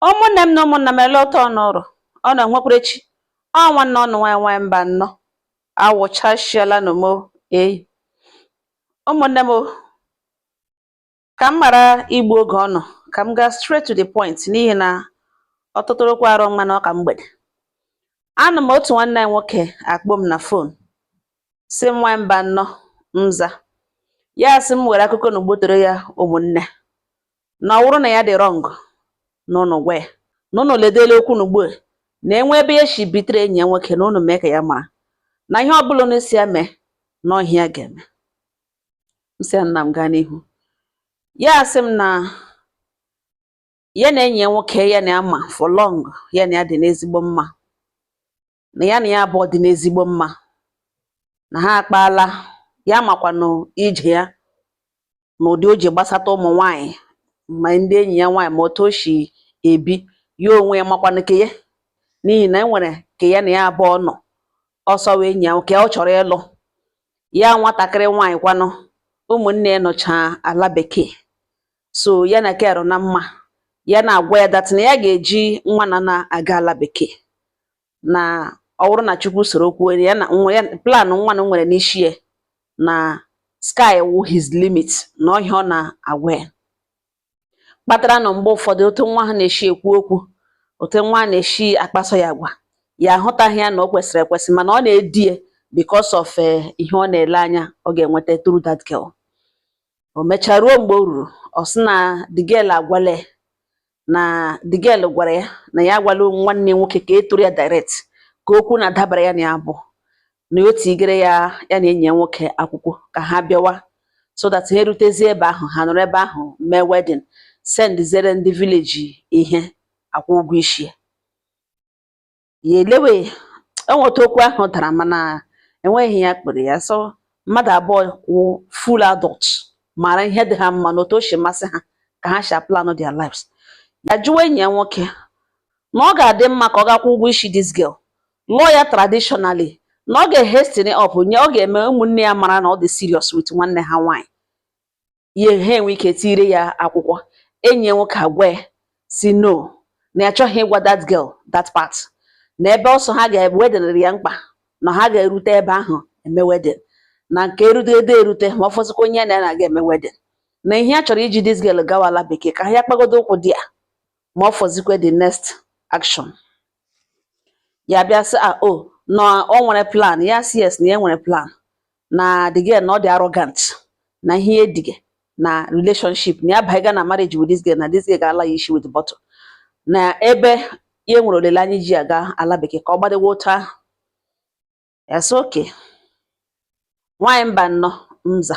ụmụnne m na ụmụnna m ele otu ụnụ rị ọ na nwekwara echi ọ nwanne ụnụ nwanyị nwanyị mbano awụchashiela na mo eyi ụmụnne m ka m ghara igbu oge ụnụ ka m gaa straight to the point n'ihi na ọtụtụrụkwa arụ mma na ọ ka mgbede a nọ m otu nwanne anyị nwoke akpọ m na fon sị m nwanyị mbano m za ya sị m were akụkọ na ugbotoro ya ụmụnne na ọ wụrụ na ya dị wrong na ụnụ gwa ya na ụnụ ledele okwu n'ugbo na e nwee ebe ya shi bitere enyi ya nwoke na ụnụ mee ka ya mara na ihe ọbụla ụnụ sị ya mee na ọ ihe ya ga-eme m sị ya nna m gaa n'ihu ya asị m na ya na enyi ya nwoke ya na ya ma for long ya na ya dị n'ezigbo mma na ya na ya abụọ dị n'ezigbo mma na ha akpaala ya makwanụ ije ya na ụdị o ji gbasata ụmụ nwaanyị ma ndị enyi ya nwaanyị ma otu o shi ebi ya onwe ya makwanụ ke ya n'ihi na e nwere ke ya na ya abụọ nọ ọ sọ wee enyi ya nke ọ chọrọ ịlụ ya nwatakịrị nwaanyị kwanụ ụmụnne ya nọcha ala bekee so ya na kero na mma ya na-agwa ya that na ya ga-eji nwa na na-aga ala bekee na ọ bụrụ na chukwu soro kwuo ya na nwa ya plan nwa na nwere n'isi ya na sky wụ his limit na ọ ihe ọ na-agwa ya kpatara na mgbe ụfọdụ otu nwa a na-esi ekwu okwu otu nwa a na-esi akpaso ya agwa ya ahụtaghị ya na o kwesịrị ekwesị mana ọ na-edi ya because of eh, ihe ọ na-ele anya ọ ga-enweta through that girl o mechaa ruo mgbe o ruru ọ sị na the girl agwala ya na the girl gwara ya na ya agwala nwanne ya nwoke ka e tụrụ ya direct ka okwu na-adabara ya na ya bụ na o tigere ya ya na enyi ya nwoke akwụkwọ ka ha bịawa so that ha erutezie ebe ahụ ha nọrọ ebe ahụ mee wedding sendizere ndị village ihe akwụ ụgwọ isi ya ya elewe enweta okwu ahụ dara mana enweghị ihe ya kpọrọ ya so mmadụ abụọ wụ full adult mara ihe dị ha mma na otu o si masị ha ka ha si plan their lives ya jụwa enyi ya nwoke na ọ ga-adị mma ka ọ gaa kwụọ ụgwọ isi this girl lụọ ya traditionally na ọ ga-ehasten up nye ọ ga-eme ụmụnne ya mara na ọ dị serious with nwanne ha nwaanyị ya ha enwee ike tire ya akwụkwọ enyi ya nwoke agwa ya sị no na ya achọghị ịgwa that girl that part na ebe ọ sọ ha ga-ebe wedelere ya mkpa na ha ga-erute ebe ahụ eme wedding na nke erute ede erute ma ọ fọzikwa onye na ya na-aga eme wedding na ihe ya chọrọ iji this girl gawa ala bekee ka ha ya kpagodo ụkwụ there ma ọ fọzikwa the next action ya bịa sị a o na o nwere plan ya sị yes na ya nwere plan na the girl na ọ dị arrogant na ihe ya edige na relationship na ya baiga na marriage with this girl na this girl ga-ala ya isi with bottle na ebe ya nwere olileanya ji ya gaa ala bekee ka ọ gbadewe otu ahụ ya sị okay nwaanyị mba nnọọ mza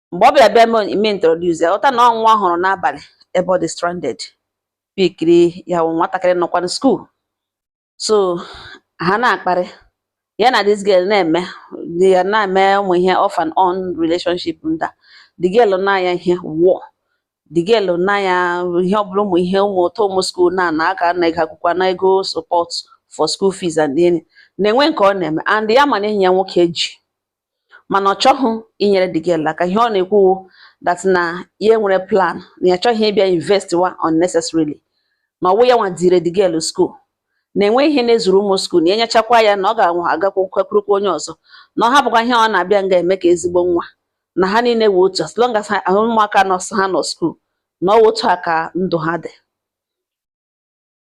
mgbe ọ bịara bịa me introduce ya ọta na ọ nwa hụrụ n'abalị ebe ọ dị stranded pikiri ya wụ nwatakịrị nọkwa na skuul so ha na-akparị ya na this girl na-eme ya na-eme ụmụ ihe off and on relationship nda the girl na ya ihe wụọ the girl na ya ihe ọ bụla ụmụ ihe ụmụ ụtọ ụmụ skuul na na aka na ego akwụkwọ na ego support for school fees and then na enwe nke ọ na-eme and ya mana enyi ya nwoke ji mana ọ chọghị inyere the girl aka ihe ọ na-ekwu wụ that na ya nwere plan na ya chọghị ịbịa invest wa unnecessarily na ọwụ ya nwa dire the girl school na enweghị ihe na-ezuru ụmụ skuul na enyechakwa ya na ọ ga-agakwukwurukwa onye ọzọ na ọ hapụkwa ihe ọ na-abịa nga eme ka ezigbo nwa na ha niile wụ otu as long as ụmụaka nọsụ ha nọ skuul na ọ otu a ka ndụ ha dị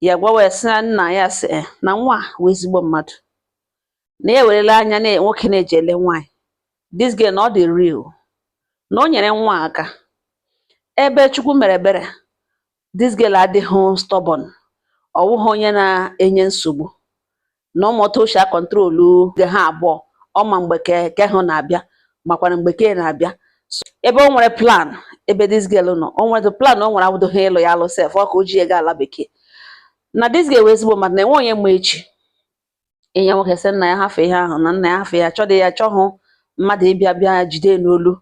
ya gwawa ya sị ya nna ya sị eh, na nwa wụ ezigbo mmadụ na ya ewerela anya na nwoke na-eji ele nwaanyị this girl na ọ dị real na o nyere nwa aka ebe chukwu mere ebere this girl adịghị stubborn ọ wụghị onye na-enye nsogbu na ọmụta oshi akọntrolu ge ha abụọ ọ ma mgbe ke ahụ na-abịa makwara mgbe ke a na-abịa ebe o nwere plan ebe this girl nọ o nwere plan o nwere awụdoghị ịlụ ya alụ sef ọ ka o ji ya gaa ala bekee na this girl wụ ezigbo mmadụ na enwe onye ma echi enyi ya nwoke sị nna ya hafụ ihe ahụ na nna ya hafụ ya chọdị ya chọhụ mmadụ ịbịa bịa jide n'olu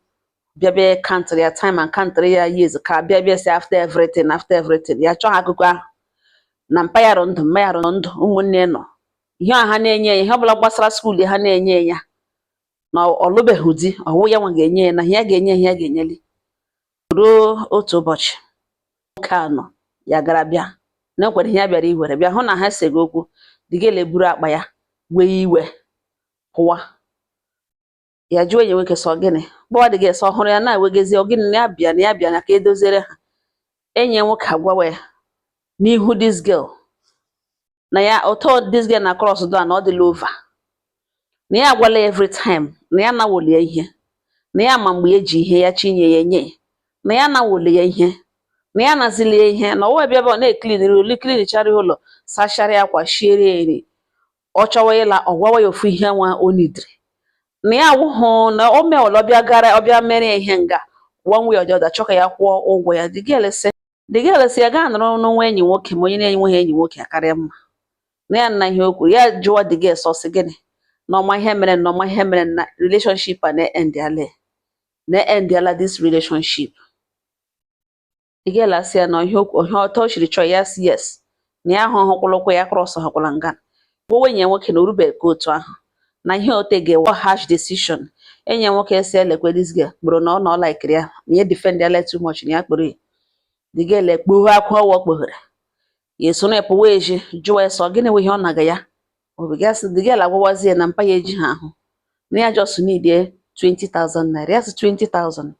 bịa bịa kantịrị ya time and kantịrị ya years ka bịa bịa si after everything after everything ya chọọ akụkọ ahụ na mpa ya rụ ndụ mma ya rụ ndụ ụmụnne nọ ihe ha na-enye ya ihe ọbụla gbasara skuul ha na-enye ya na ọ lụbeghị di ọwụ ya nwa ga-enye ya na ihe ya ga-enye ihe ya ga-enyeli ruo otu ụbọchị nwoke a nọ ya gara bịa na ka o were ihe ya bịara iwere bịa hụ na ha esego okwu the girl eburu akpa ya wee iwe pụwa ya jụọ enyi nwoke sị ọ gịnị gbawa the girl sị ọ hụrụ ya na-ewegezi ọ gịnị na ya bịa na ya bịa na ka edoziere ha enyi ya nwoke agwawa ya n'ihu this girl na ya otu this girl na-cross door na ọ dịla over na ya agwala every time na ya nawoli ya ihe na ya ma mgbe eji ihe ya chinye ya enye na ya nawoli ya ihe na ya nazili ya ihe na ọwa bịa ọ na-ekliniri ụlọ klinichara ụlọ sachara ya akwa shiere ya nri ọ chọwa ịla ọ gwawa ya ofu ihe nwa o nidiri na ya wụhụ na o mewala ọbịa gara ọbịa mere ya ihe nga one way or the other chọọ ka ya kwụọ ụgwọ ya the girl sị the girl sị ya gaa nọrọ na o nwe enyi nwoke ma onye na-enweghị enyi nwoke akarịa mma na ya nna ihe o kwuru ya jụwa the girl sị ọ sị gịnị na ọ ma ihe mere na ọ ma ihe mere na relationship a na-endiale na-endiala this relationship the girl asị ya na ihe ọtọ o chiri chọọ ya sị yes na ya ahụ ọhụkwụla ụkwụ ya cross ọhụkwụla nga gbowe enyi nwoke na o rubeghị ka otu ahụ na ihe ote ga-ewe harsh decision enyi nwoke sị ya lekwa this girl kpọrọ na ọ na ọ laikiri ya na ya defend ya let too much na ya kpọrọ ya the girl ekpoghe akwa ọwa kpoghere ya eso ya pụwa eji jụwa ya so gịnị wụ ihe ọ naga ya obigasị the girl agwawazie na mpa ya ejighị ahụ na ya just nidie 20,000 naira ya sị 20,000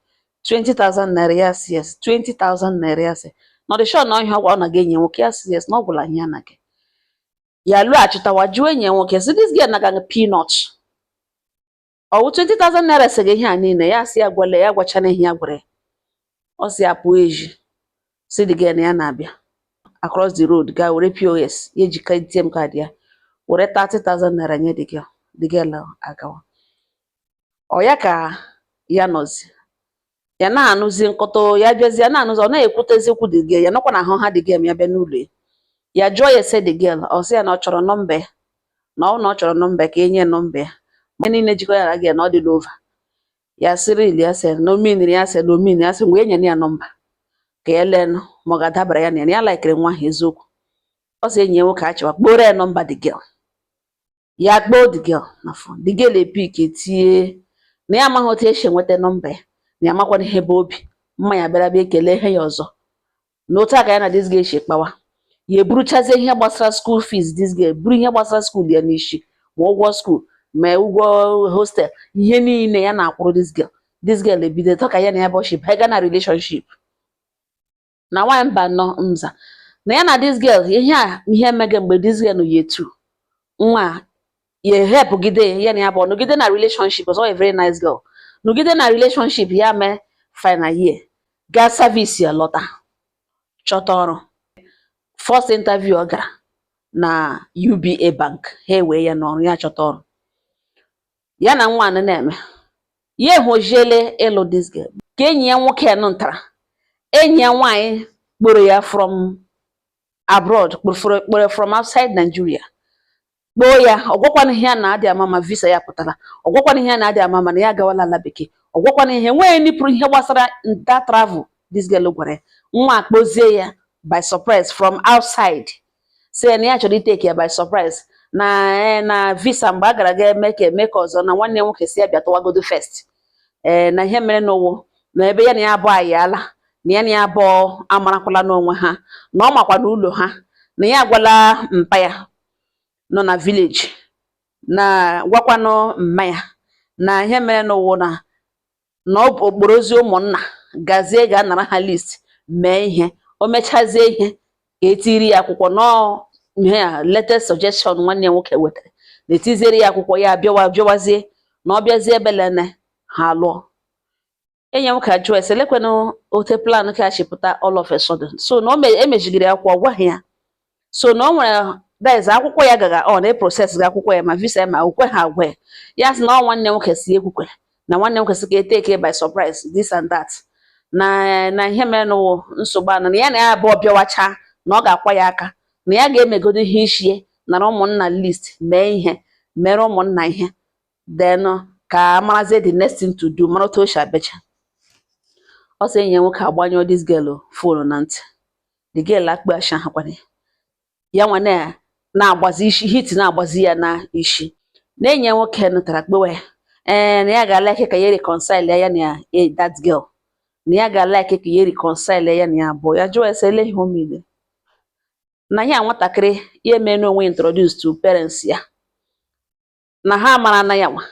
20,000 naira ya sị yes 20,000 naira ya sị na ọ dị sure na ọ ihe a ọgwa ọ naga enyi nwoke ya sị yes na ọ gwụla ihe ya naga ya lọghachitawa jụọ enyi nwoke sị this girl naga peanut ọ wụ 20,000 naira sega ihe a niile ya sị ya gwale ya gwachana ihe ya gwara ya ọ sị ya pụọ ezi sị the girl na ya na-abịa across the road gaa were POS ya ejika ATM card ya were 30,000 naira nye the girl the girl agawa ọ ya ka ya nọzi ya na-anụzi nkọta ya bịazi ya na-anụzi ọ na-ekwutezi okwu the girl ya nọkwa na ahụ ha the girl ya bịa n'ụlọ ya ya jụọ ya ese the girl ọ sị ya na ọ chọrọ nọmba ya na ọ na ọ chọrọ nọmba ya ka enye nọmba ya ma ihe niile jikọ ya na the girl na ọ dịla over ya sị really ya sị na o meaniri ya sị na o meaniri ya sị mgbe enye ya nọmba ka ya lee nụ ma ọ ga-adabara ya na ya na ya laikiri nwa ahụ eziokwu ọ sị enyi ya nwoke achịwa kpọọrọ ya nọmba the girl ya kpọọ the girl na fon the girl epik etinye na ya amaghị otu e si enweta nọmba ya na ya makwana ihe bụ obi mma ya bịara bịa kelee ya ọzọ na otu a ka ya na this girl si kpawa ya eburuchazie ihe gbasara school fees this girl buru ihe gbasara school ya n'isi ma ụgwọ school ma ụgwọ hostel ihe niile ya na-akwụrụ this girl this girl ebido tọ ka ya na ya bụ ọchị bịa na relationship na nwaanyị Mbano mza na ya na this girl ihe a ihe emege mgbe this girl nọ ya etu nwa ya ehelpụgide ya na ya bụ nọgide na relationship was a very nice girl nọgide na relationship ya mee final year gaa service ya lọta chọta ọrụ first interview ọ gara na UBA bank ha ewee ya n'ọrụ ya chọta ọrụ ya na nwa nụ na-eme ya ehojiele ịlụ this girl ka enyi ya nwoke nụ that enyi ya nwaanyị kpọrọ ya from abroad kpọrọ from outside Nigeria kpọọ ya ọ gwakwana ihe a na-adị ama ma visa ya pụtara ọ gwakwana ihe a na-adị ama mana ya agawala ala bekee ọ gwakwana ihe nwee nipụrụ ihe gbasara that travel this girl gwara ya nwa akpọzie ya by surprise from outside si na ya chọrọ ịtake ya by surprise na eh, na visa mgbe a gara ga eme ka eme ka ọzọ na nwanne nwoke si ya bịa tụwagodo first ee eh, na ihe merenụ wụ na ebe ya na ya abụọ ayala na ya na ya abụọ amarakwala n'onwe ha na ọ makwa na ụlọ ha na ya agwala mpa ya nọ na village na gwakwanụ mma ya na ihe merenụ wụ na na ọ kpọrọzie ụmụnna gazie gaa nara ha list mee ihe o mechazie ihe ka etiri ya akwụkwọ na ọ ihe ya latest suggestion nwanne ya nwoke wetara na etiziere ya akwụkwọ ya bịawa bịawazie na ọ bịazie ebelene ha alụọ enyi nwoke ajụọ ese lekwenụ otu plan ke a shi pụta all of a sudden so na o me- emejigiri akwụkwọ ọ gwaghị ya so na ọ nwere that is akwụkwọ ya gaga ọ na-eprocessga akwụkwọ ya ma visa ya ma o kwe ha agwa ya sị na ọ nwanne nwoke si ekwukwe na nwanne nwoke si ka etake by surprise this and that na na ihe merenụ wụ nsogbu anọ na ya na ya abụọ bịawacha na ọ ga-akwa ya aka na ya ga-emegodo ihe ichie nara ụmụnna list mee ihe mere ụmụnna ihe then ka marazie the next thing to do mara otu o si abecha ọ sị enyi ya nwoke agbanyụọ this girl phone na ntị the girl akpọ ashi ahụ kwana ya ya nwa na na-agbazi isi heat na-agbazi ya na isi na enyi nwoke nụtara kpewe ya ee na ya ga-alike ka ya reconcile ya na ya eh, that girl na ya ga-alike ka ya reconcile ya na ya abụọ ya jụọ ese ele ihe o mere na ya nwatakịrị ya emee n'onwe introduce to parents ya na ha mara na ya nwa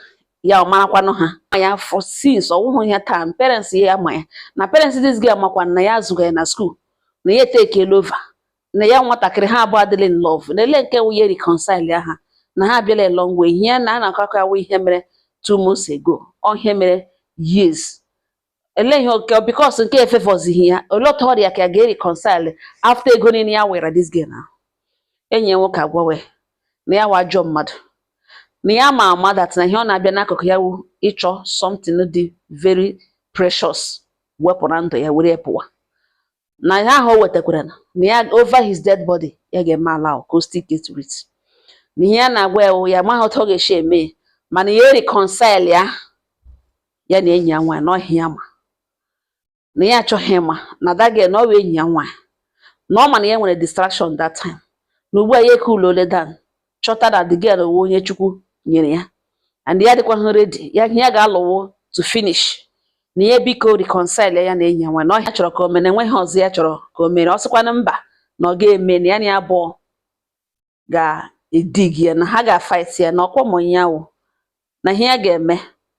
ya ọ marakwanụ ha ma ya for since ọ wụhụ ya taa parents ya ma ya na parents this girl makwa na ya azụga ya na school na ya etakeela over na ya nwatakịrị ha abụọ adịla in love na ele nke wụ ya reconcile ya ha na ha abịala a long way ihe na a na-akọ akọ awụ ihe mere two months ago ọ ihe mere years ele ihe okay because nke efavourzighị ya olee otu ọ dị ya ka ya ga-ereconcile after ego niile ya were this girl na enyi ya nwoke agwawe na ya wụ ajọ mmadụ na ya ma ama that na ihe ọ na-abịa n'akụkụ ya wụ ịchọ something dị very precious wepụ na ndụ ya were ya pụwa na ihe ahụ o wetakwara na ya over his dead body ya ga-eme allow ka o still get rich na ihe ya na-agwa ya wụ ya amaghị otu ọ ga-esi eme mana ya reconcile ya ya na enyi ya nwaanyị na ọ ihe ya ma na ya achọghị ịma na that girl na ọ wụ enyi ya nwaanyị na ọ ma na ya nwere distraction that time na ugbu a ya ecoolụọla down chọta na the girl wụ onye chukwu nyere ya and ya dịkwaghị ready ya ihe ya ga-alụwo to finish na ya biko reconcile ya na enyi ya nwaanyị na ọ ihe ya chọrọ ka o mere enweghị ọzọ ya chọrọ ka o mere ọ sịkwana mba na ọ ga-eme na ya na ya abụọ ga-edigi ya na ha ga-afaiti ya na ọkwa ma onye ya wụ na ihe ya ga-eme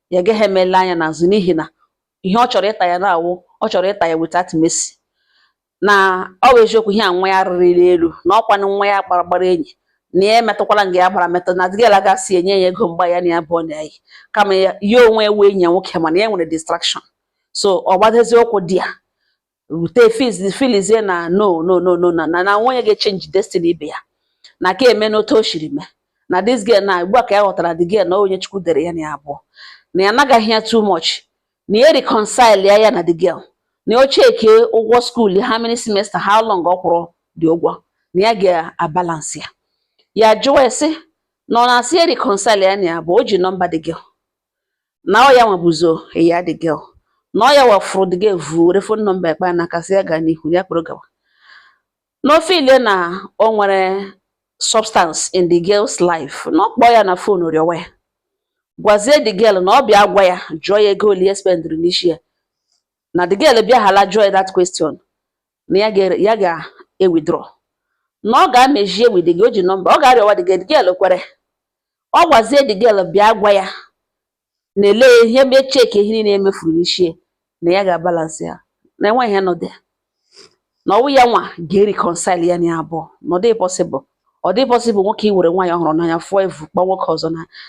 ya gaghị emela anya n'azụ n'ihi na ihe ọ chọrọ ịta ya na-awụ ọ chọrọ ịta ya without mercy na ọ bụ eziokwu ihe a nwa ya rịrị elu na ọkwanụ nwa ya gbara gbara enyi na ya emetụkwala nga ya gbara metụ na the girl gasị enye ya ego mgba ya na ya abụọ na-eyi kama ya onwe ewe enyi ya nwoke mana ya nwere distraction so ọ gbadezi ụkwụ di ya rute fiz- filizie na no no no no na na na nwunye ga-echenji destiny ibe ya na ka eme n'otu o shiri mee na this girl na ugbu a ka ya ghọtara the girl na onye chukwu dere ya na ya abụọ na ya nagaghị ya too much na ya reconcile ya ya na the girl na o cheke ụgwọ school how many semester how long ọ kwụrụ dị ụgwọ na ya ga-abalance ya ya jụwa ya sị na ọ na-asị ya reconcile ya na ya abụọ o ji nọmba the girl na ọ ya nwa buzo ya the girl na ọ ya nwa fụrụ the girl evu were fon nọmba ekpa n'aka sị ya gaa n'ihu ya kpọrọ gawa na o feel na o nwere substance in the girl's life na ọ kpọọ ya na fon rịọwa ya gwazie the girl na ọ bịa gwa ya jụọ ya ego ole ya spendịrị n'isi ya na the girl bịa hala jụọ ya that question na ya ga- ya ga-ewithdraw na ọ ga-amejie with the girl, o ji nọmba ọ ga-arịọwa the girl, the girl kwere ọ gwazie the girl bịa gwa ya na ele ihe mee cheki ihe niile emefuru n'ishi e na ya ga-abalansị ya na enweghị ihe nọ dị ya na ọwụ ya nwa ga-reconcile ya na ya abụọ na ọ dịghị possible ọ dị possible nwoke iwere nwaanyị ọ hụrụ n'anya fụọ evu kpọọ nwoke ọzọ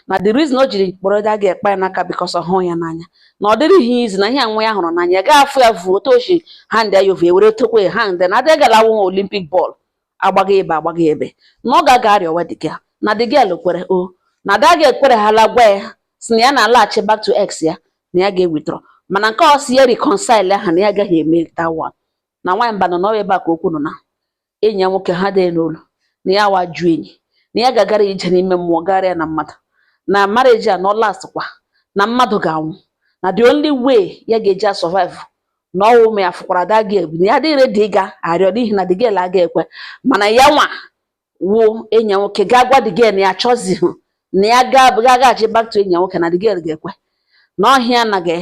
na the reason o jiri kpọrọ that girl ekpa ya n'aka because ọ hụrụ ya n'anya na ọ dịrị ya easy na ihe nwa ya hụrụ n'anya ya ga-afụ ya vuo otu ochi hand ya over ewere tokwe ha ndị na the girl awụ Olympic ball agbaghị ebe agbaghị ebe na ọ ga-aga arịọwa the girl na the girl kwere o na that girl ekwere hala gwa ya si na ya na-alaghachi back to ex ya na ya ga-ewithdraw mana nke ọ si ya reconcile ha na ya agaghị eme that one na nwaanyị mba na ọwụ ebe a ka okwu nọ na enyi ya nwoke ha dee n'olu na ya wa jụ enyi na ya ga-agara ije n'ime mmụọ gara ya na mmadụ na marriage a na ọ lastkwa na mmadụ ga-anwụ na the only way ya ga-eji asurvive na ọwụ ma ya fụkwara that girl na ya dịghị ready ịga arịọ n'ihi na the girl aga ekwe mana ya nwa wụ enyi ya nwoke gaa gwa the girl na ya chọzihụ na ya gaa gaghachi back to enyi ya nwoke na the girl ga-ekwe na ọhịa anaghị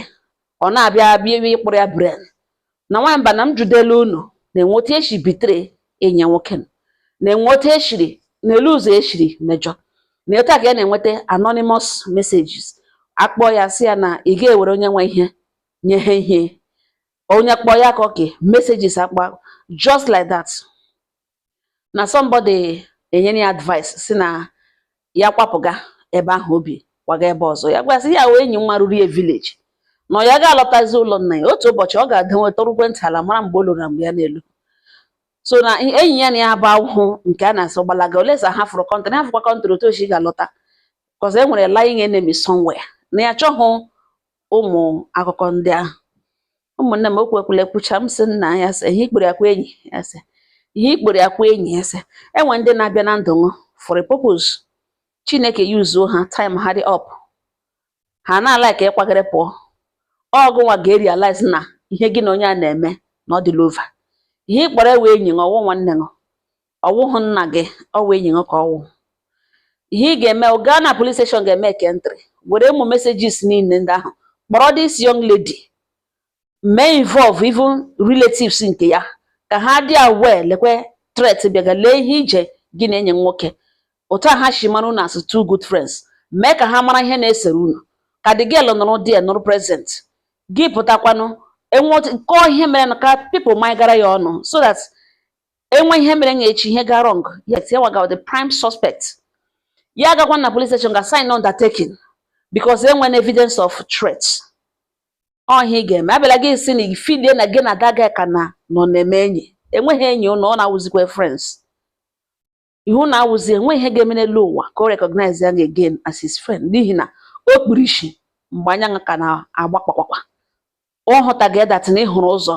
ọ na-abịa bịa ịkpụrụ ya brain na nwaanyị mba na m jụdela unu na-enwe otu esi betray enyi ya nwoke na-enwe otu eshiri n'elu ụzọ eshiri mejọ na etu a ka ya na-enweta anonymous messages akpọ ya si ya na ị ga-ewere onye nwe ihe nye ha ihe onye kpọ ya ka oke messages akpa just like that na somebody enyere ya advice sị na ya kwapụga ebe ahụ o bi kwaga ebe ọzọ ya gwasị ya wee enyi nwa ruru ya village na ya ga-alọtazi ụlọ nna ya otu ụbọchị ọ ga-adanwe tọrụkwe ntị ala mara mgbe o lụrụ na mgbe ya n'elu so na enyi ya na ya bụ ahụhụ nke a na-asọ gbalaga olesa ha fụrụ country ha fụkwa country otu ochi ga-alọta because e nwere lying enemy somewhere na ya chọghị ụmụ akụkọ ndị ahụ ụmụnne m okwu ekwula ekwucha m sị nna ya sị ihe ị kpọrọ akwa enyi ya sị ihe ị kpọrọ akwa enyi ya sị enwe ndị na-abịa na ndụ ṅụ for a purpose chineke yuzuo ha time ha dị up ha na-ala ka ị kwagịrị pụọ ọ gụnwa ga-erealize na ihe gị na onye a na-eme na ọ dịla over ihe ị kpọrọ ewe enyi ṅụ ọ wụ nwanne ṅụ ọ wụghị nna gị ọ wụ enyi gị ka ọ wụ ihe ị ga-eme gaa na police station ga make entry were ụmụ messages niile ndị ahụ kpọrọ this young lady mee involve even relatives nke ya ka ha dị aware lekwe threat bịaga lee ihe ije gị na enyi nwoke otu a ha si mara unu as two good friends mee ka ha mara ihe na-esere unu ka the girl nọrọ dị nọrọ present gị pụtakwanụ enwe kọọ ihe mere na ka people ma ị gara ya ọnụ so that enwe ihe mere nya echi ihe ga wrong yes ya wụga the prime suspect ya agakwa na police station ga sign undertaking because enwe na evidence of threat ọ ihe ị ga-eme abịala gị sị na i feelie na gị na that guy ka na nọ na-eme enyi enweghị enyi ụnụ ụnụ awụzikwa friends ụnụ awụzi enwe ihe ga-eme n'elu ụwa ka o recognize ya again as his friend n'ihi na o kpuru isi mgbe anya ṅụ ka na-agba kpakpakpa ọ hụtaghị that na ị hụrụ ụzọ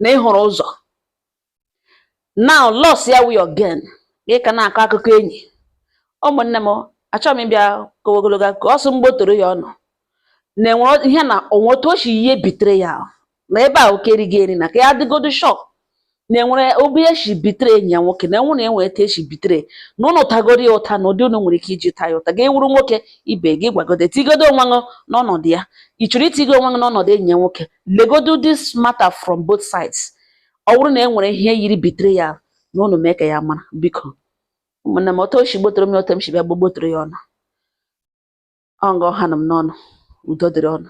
na ị hụrụ ụzọ na loss ya wụ your gain gị ka na-akọ akụkọ enyi ụmụnne m achọghị m ịbịa kọwe ogologo ka ọ sị m gbotoro ya ọnụ na enwere ihe na o nwe otu o si yie betrayal na ebe a oke erighị eri na ka ya dịgodu shock na e nwere ebe o si betray enyi ya nwoke na enwe na enwe etu o si betray na ụnụ tagoro ya ụta na ụdị ụnụ nwere ike iji taa ya ụta ga-ewuru nwoke ibe gị gwagodo etigodo onwe ṅụ n'ọnọdụ ya ị chọrọ itigo onwe ṅụ n'ọnọdụ enyi ya nwoke legodo this matter from both sides ọ bụrụ na e nwere ihe yiri betrayal na ụnụ mee ka ya mara biko ụmụnne m otu o si gbotoro m ya otu m si bịa gbogbotoro ya ọnụ ọ nga ọ hanụ m n'ọnụ udo dịrị ụnụ